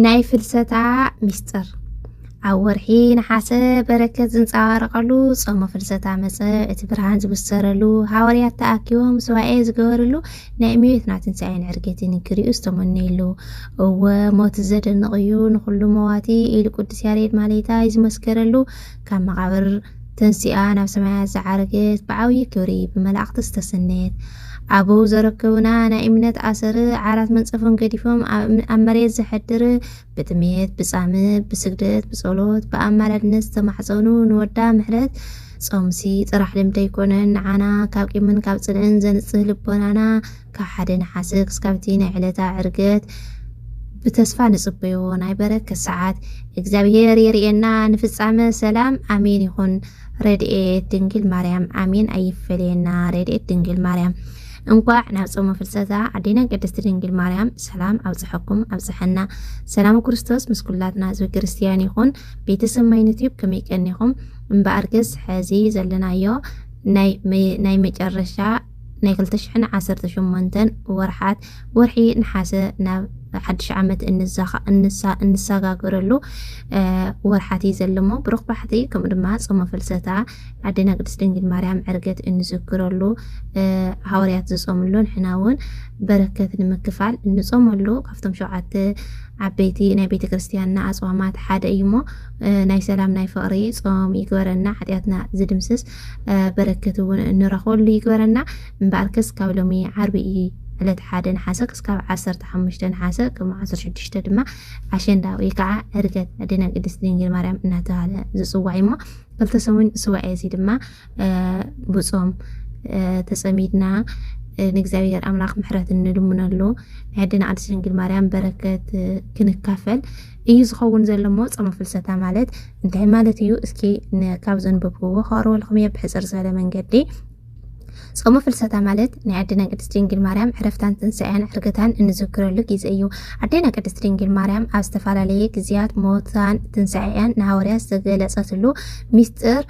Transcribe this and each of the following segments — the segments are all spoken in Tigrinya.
ናይ ፍልሰታ ሚስጥር ኣብ ወርሒ ነሓሰ በረከት ዝንፀባረቐሉ ጾመ ፍልሰታ መፀ እቲ ብርሃን ዝብሰረሉ ሃዋርያት ተኣኪቦም ስዋኤ ዝገበርሉ ናይ እመቤትና ትንሣኤን ዕርገትን ክሪኡ ዝተመነየሉ እወ ሞት ዘደንቕ እዩ ንኹሉ መዋቲ ኢሉ ቅዱስ ያሬድ ማሌታይ ዝመስከረሉ ካብ መቓብር ተንሲኣ ናብ ሰማያት ዝዓረገት ብዓብዪ ክብሪ ብመላእኽቲ ዝተሰነየት ኣበው ዘረከቡና ናይ እምነት ኣሰር ዓራት መንጸፎም ገዲፎም ኣብ መሬት ዘሐድር ብጥሜት ብጻምእ ብስግደት ብጸሎት ብኣማላድነት ዝተማሕጸኑ ንወዳ ምሕረት ጾምሲ ጥራሕ ልምዲ ኣይኮነን ንዓና ካብ ቂምን ካብ ጽልእን ዘንጽህ ልቦናና ካብ ሓደ ነሓሰ ክስካብ'ቲ ናይ ዕለታ ዕርገት ብተስፋ ንጽበዮ ናይ በረከት ሰዓት እግዚኣብሔር የርእየና ንፍጻመ ሰላም ኣሜን ይኹን ረድኤት ድንግል ማርያም ኣሜን ኣይፈለየና ረድኤት ድንግል ማርያም እንኳዕ ናብ ጾመ ፍልሰታ ኣዴና ቅድስቲ ድንግል ማርያም ሰላም ኣብጽሐኩም ኣብጽሐና ሰላም ክርስቶስ ምስ ኩላትና ህዝቢ ክርስትያን ይኹን ቤተሰብ ማይነትዩብ ከመይ ቀኒኹም እምበኣር ገስ ሕዚ ዘለናዮ ናይ መጨረሻ ናይ ክልተ ሽሕን ዓሰርተ ሸሞንተን ወርሓት ወርሒ ነሓሰ ናብ ሓድሽ ዓመት እንሰጋገረሉ ወርሓት እዩ ዘለሞ ብሩኽ ባሕቲ ከምኡ ድማ ጾመ ፍልሰታ ዓድና ቅድስት ድንግል ማርያም ዕርገት እንዝክረሉ ሃዋርያት ዝጾምሉ ንሕና እውን በረከት ንምክፋል እንጾመሉ ካብቶም ሸውዓተ ዓበይቲ ናይ ቤተ ክርስትያንና ኣጽዋማት ሓደ እዩ እሞ ናይ ሰላም ናይ ፍቕሪ ጾም ይግበረና ሓጢኣትና ዝድምስስ በረከት እውን እንረኽበሉ ይግበረና። እምበኣርከስ ካብ ሎሚ ዓርቢ እዩ ዕለት ሓደ ነሓሰ ክስካብ ዓሰርተ ሓሙሽተ ነሓሰ ቅድሚ ዓሰርተ ሽዱሽተ ድማ ዓሸንዳ ወይ ከዓ ዕርገት ኣዴና ቅድስት ድንግል ማርያም እናተባሃለ ዝፅዋዕ እዩሞ ክልተ ሰሙን ስዋዕ እዚ ድማ ብፆም ተፀሚድና ንእግዚኣብሔር ኣምላኽ ምሕረት እንልምነሉ ናይ ኣዴና ቅድስት ድንግል ማርያም በረከት ክንካፈል እዩ ዝኸውን ዘሎ እሞ ጾመ ፍልሰታ ማለት እንታይ ማለት እዩ እስኪ ካብ ዘንበብክዎ ከቕርበልኩም እየ ብሕጽር ዝበለ መንገዲ ጾመ ፍልሰታ ማለት ናይ ኣዴና ቅድስት ድንግል ማርያም ዕረፍታን ትንሳኤያን ዕርገታን እንዝክረሉ ግዜ እዩ። ኣዴና ቅድስት ድንግል ማርያም ኣብ ዝተፈላለየ ግዜያት ሞታን ትንሳኤያን ንሃዋርያት ዝተገለጸትሉ ሚስጥር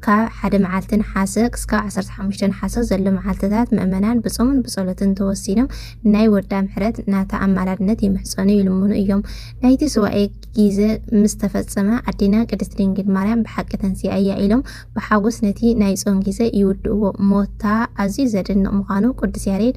ካብ ሓደ መዓልቲ ነሓሰ ክስካብ ዓሰርተ ሓሙሽተ ነሓሰ ዘሎ መዓልትታት ምእመናን ብጾምን ብጸሎትን ተወሲኖም ናይ ወዳ ምሕረት ናታ ኣማላድነት ይምሕጸኑ ይልምኑ እዮም። ናይቲ ሱባኤ ጊዘ ምስ ተፈጸመ ኣዴና ቅድስት ድንግል ማርያም ብሓቂ ተንሲኣ እያ ኢሎም ብሓጎስ ነቲ ናይ ጾም ጊዘ ይውድእዎ። ሞታ ኣዝዩ ዘደንቕ ምዃኑ ቅዱስ ያሬድ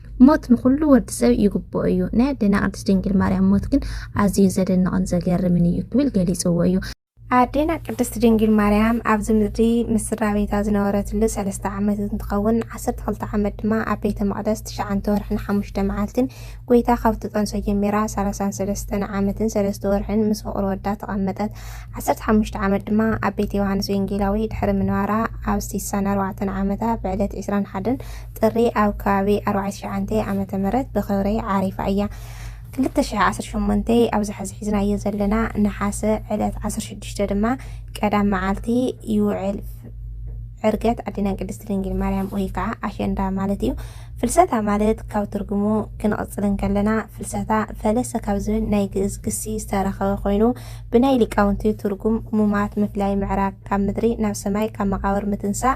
ሞት ንኹሉ ወዲ ሰብ ይግብኦ እዩ፣ ናይ ኣዴና ቅድስት ድንግል ማርያም ሞት ግን ኣዝዩ ዘደንቕን ዘገርምን እዩ ክብል ገሊጽዎ እዩ። ኣዴና ቅድስት ድንግል ማርያም ኣብዚ ምድሪ ምስ ስድራቤታ ዝነበረትሉ ሰለስተ ዓመት እንትኸውን ዓሰርተ ክልተ ዓመት ድማ ኣብ ቤተ መቕደስ ትሽዓንተ ወርሕን ሓሙሽተ መዓልትን ጎይታ ካብ ትጠንሶ ጀሚራ ሰላሳን ሰለስተን ዓመትን ሰለስተ ወርሕን ምስ ፍቕሪ ወዳ ተቐመጠት። ዓሰርተ ሓሙሽተ ዓመት ድማ ኣብ ቤት ዮሃንስ ወንጌላዊ ድሕሪ ምንባራ ኣብ ሲሳን ኣርባዕተን ዓመታ ብዕለት ዕስራን ሓደን ጥሪ ኣብ ከባቢ ኣርባዕተ ትሽዓተ ዓመተ ምህረት ብኽብሪ ዓሪፋ እያ። ክልተ ሽሕ ዓሰርተ ሸሞንተ ኣብዚ ሕዚ ሒዝናዮ ዘለና ነሓሰ ዕለት ዓሰርተ ሽዱሽተ ድማ ቀዳም መዓልቲ ይውዕል። ዕርገት ኣዴና ቅድስት ድንግል ማርያም ወይ ከዓ ኣሸንዳ ማለት እዩ። ፍልሰታ ማለት ካብ ትርጉሙ ክንቕፅል እንከለና ፍልሰታ ፈለሰ ካብ ዝብል ናይ ግእዝ ግሲ ዝተረኸበ ኮይኑ ብናይ ሊቃውንቲ ትርጉም ሙማት ምፍላይ ምዕራግ ካብ ምድሪ ናብ ሰማይ ካብ መቃብር ምትንሳእ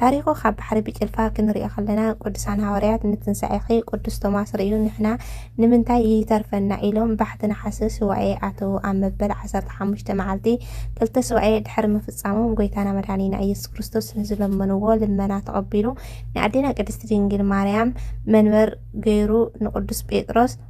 ታሪኹ ካብ ባሕሪ ብጭልፋ ክንሪኦ ከለና ቅዱሳን ሃዋርያት ንትንሳኤኺ ቅዱስ ቶማስ ርእዩ ንሕና ንምንታይ ይይተርፈና ኢሎም ባሕቲ ነሓሰ ሱባኤ ኣተዉ ኣብ መበል ዓሰርተ ሓሙሽተ መዓልቲ ክልተ ሱባኤ ድሕሪ ምፍጻሞም ጎይታና መድኃኒና ኢየሱስ ክርስቶስ ንዝለመንዎ ልመና ተቐቢሉ ንኣዴና ቅድስቲ ድንግል ማርያም መንበር ገይሩ ንቅዱስ ጴጥሮስ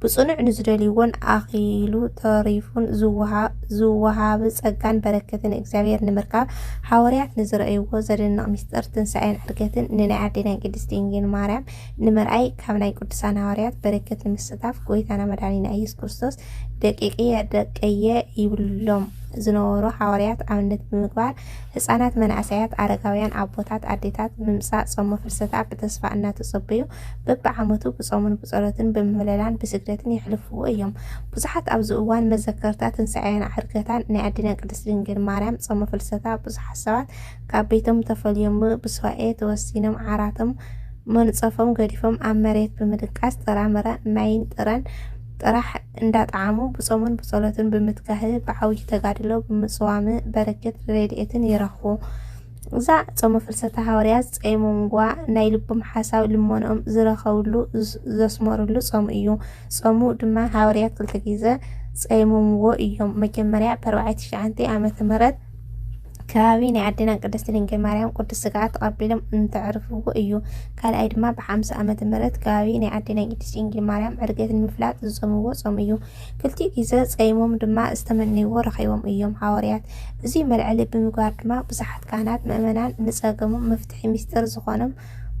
ብጽኑዕ ንዝደልይዎን ኣኺሉ ተሪፉን ዝወሃብ ጸጋን በረከትን እግዚኣብሔር ንምርካብ ሓወርያት ንዝረእይዎ ዘደንቕ ምስጢር ትንሣኤን ዕርገትን ንናይ ኣዴና ቅድስት ድንግል ማርያም ንምርኣይ ካብ ናይ ቅዱሳን ሓዋርያት በረከት ንምስታፍ ጎይታና መድኃኒና ኢየሱስ ክርስቶስ ደቂቅየ ደቀየ ይብሎም ዝነበሩ ሓዋርያት ኣብነት ብምግባር ህፃናት፣ መናእሰያት፣ ኣረጋውያን፣ ኣቦታት፣ ኣዴታት ምምፃእ ጾመ ፍልሰታ ብተስፋ እናተጸበዩ በብዓመቱ ብጾምን ብጸሎትን ብምህለላን ብስግደትን የሕልፍዎ እዮም። ብዙሓት ኣብዚ እዋን መዘከርታ ትንሳኤኣን ዓርገታን ናይ ኣዴና ቅድስት ድንግል ማርያም ጾመ ፍልሰታ ብዙሓት ሰባት ካብ ቤቶም ተፈልዮም ብሱባኤ ተወሲኖም ዓራቶም መንጸፎም ገዲፎም ኣብ መሬት ብምድቃስ ጥራምረ ማይን ጥረን ጥራሕ እንዳጠዓሙ ብጾምን ብጸሎትን ብምትጋህ ብዓብዩ ተጋድሎ ብምጽዋም በረከት ረድኤትን ይረኽቡ። እዛ ጾመ ፍልሰታ ሃዋርያት ዝጸይሞምዋ ናይ ልቦም ሓሳብ ልመንኦም ዝረከብሉ ዘስመርሉ ጾም እዩ። ጾሙ ድማ ሃዋርያት ክልተ ግዘ ጸይሞምዎ እዮም። መጀመርያ ብ ኣርባዓይ ትሽዓንተይ ዓመተ ምህረት ከባቢ ናይ ኣዴና ቅድስቲ ድንግል ማርያም ቅዱስ ስግኣ ተቐቢሎም እንተዕርፍዎ እዩ። ካልኣይ ድማ ብ ሓምሳ ዓመተ ምህረት ከባቢ ናይ ኣዴና ቅድስቲ ድንግል ማርያም ዕርገት ንምፍላጥ ዝጾምዎ ጾም እዩ። ክልቲኡ ግዘ ፀይሞም ድማ ዝተመነይዎ ረኺቦም እዮም ሓወርያት። እዙይ መልዐሊ ብምግባር ድማ ብዙሓት ካህናት ምእመናን ንፀገሞም መፍትሒ ምስጢር ዝኾኖም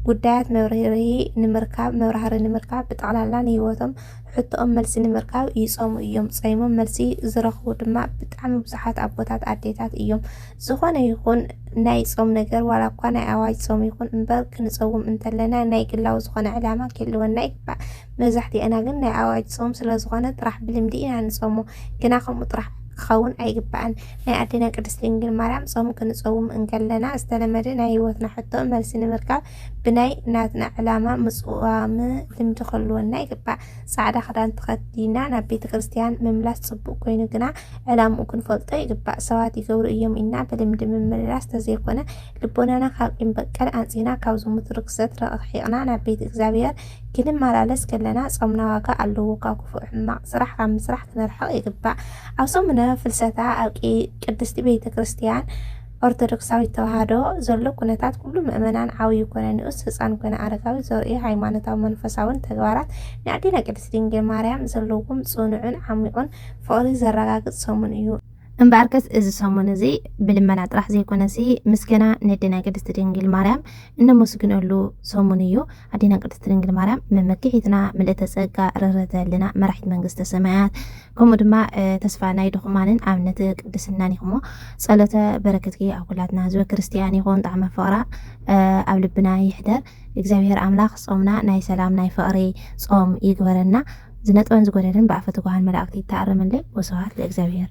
ጉዳያት መብርሂ ንምርካብ መብራህሪ ንምርካብ ብጠቕላላ ንህይወቶም ሕቶኦም መልሲ ንምርካብ ይፀሙ እዮም። ፀይሞም መልሲ ዝረኽቡ ድማ ብጣዕሚ ብዙሓት ኣቦታት ኣዴታት እዮም። ዝኾነ ይኹን ናይ ፆም ነገር ዋላ እኳ ናይ ኣዋጅ ፆም ይኹን እምበር ክንፀውም እንተለና ናይ ግላዊ ዝኾነ ዕላማ ክህልወና ይግባእ። መብዛሕቲኤና ግን ናይ ኣዋጅ ጾም ስለ ዝኾነ ጥራሕ ብልምዲ ኢና ንጾሞ ግና ከምኡ ጥራሕ ክኸውን ኣይግባእን። ናይ ኣዴና ቅድስት ድንግል ማርያም ጾም ክንጸውም እንከለና ዝተለመደ ናይ ሕይወትና ሕቶ መልሲ ንምርካብ ብናይ ናትና ዕላማ ምጽዋም ልምዲ ክህልወና ይግባእ። ጻዕዳ ክዳን ተኸዲና ናብ ቤተ ክርስቲያን ምምላስ ጽቡቅ ኮይኑ ግና ዕላምኡ ክንፈልጦ ይግባእ። ሰባት ይገብሩ እዮም ኢልና ብልምዲ ምምልላስ ተዘይኮነ ልቦናና ካብ ቂም በቀል ኣንጺህና ካብ ዝሙት ርክሰት ረቂሒቅና ናብ ቤት እግዚኣብሔር ክንመላለስ ከለና ጾምና ዋጋ ኣለዎ። ካብ ክፉእ ሕማቕ ስራሕ ካብ ምስራሕ ክንርሕቕ ይግባእ። ኣብ ሰሙነ ፍልሰታ ኣብ ቅድስቲ ቤተ ክርስቲያን ኦርቶዶክሳዊት ተዋህዶ ዘሎ ኩነታት ኩሉ ምእመናን ዓብዩ ኮነ ንኡስ ህፃን ኮነ ኣረጋዊ ዘርእዮ ሃይማኖታዊ መንፈሳውን ተግባራት ንኣዴና ቅድስት ድንግል ማርያም ዘለዎም ጽኑዕን ዓሚቑን ፍቕሪ ዘረጋግጽ ሰሙን እዩ። እምበኣርከስ እዚ ሰሙን እዚ ብልመና ጥራሕ ዘይኮነሲ ምስገና ነዴና ቅድስት ድንግል ማርያም እነመስግነሉ ሰሙን እዩ። ኣዴና ቅድስት ድንግል ማርያም መመኪሒትና ምልእተ ጸጋ ርህረተ ህልና መራሒት መንግስተ ሰማያት ከምኡ ድማ ተስፋ ናይ ድኹማንን ኣብነት ቅድስናን ኢኹሞ ጸሎተ በረከትኪ ኣብ ኩላትና ህዝበ ክርስቲያን ይኹን ጣዕመ ፍቕራ ኣብ ልብና ይሕደር እግዚኣብሔር ኣምላኽ ጾምና ናይ ሰላም ናይ ፍቕሪ ጾም ይግበረና ዝነጥበን ዝጎደልን ብኣፈ ትጉሃን መላእክቲ ይተኣረመለይ ወስብሃት ለእግዚኣብሔር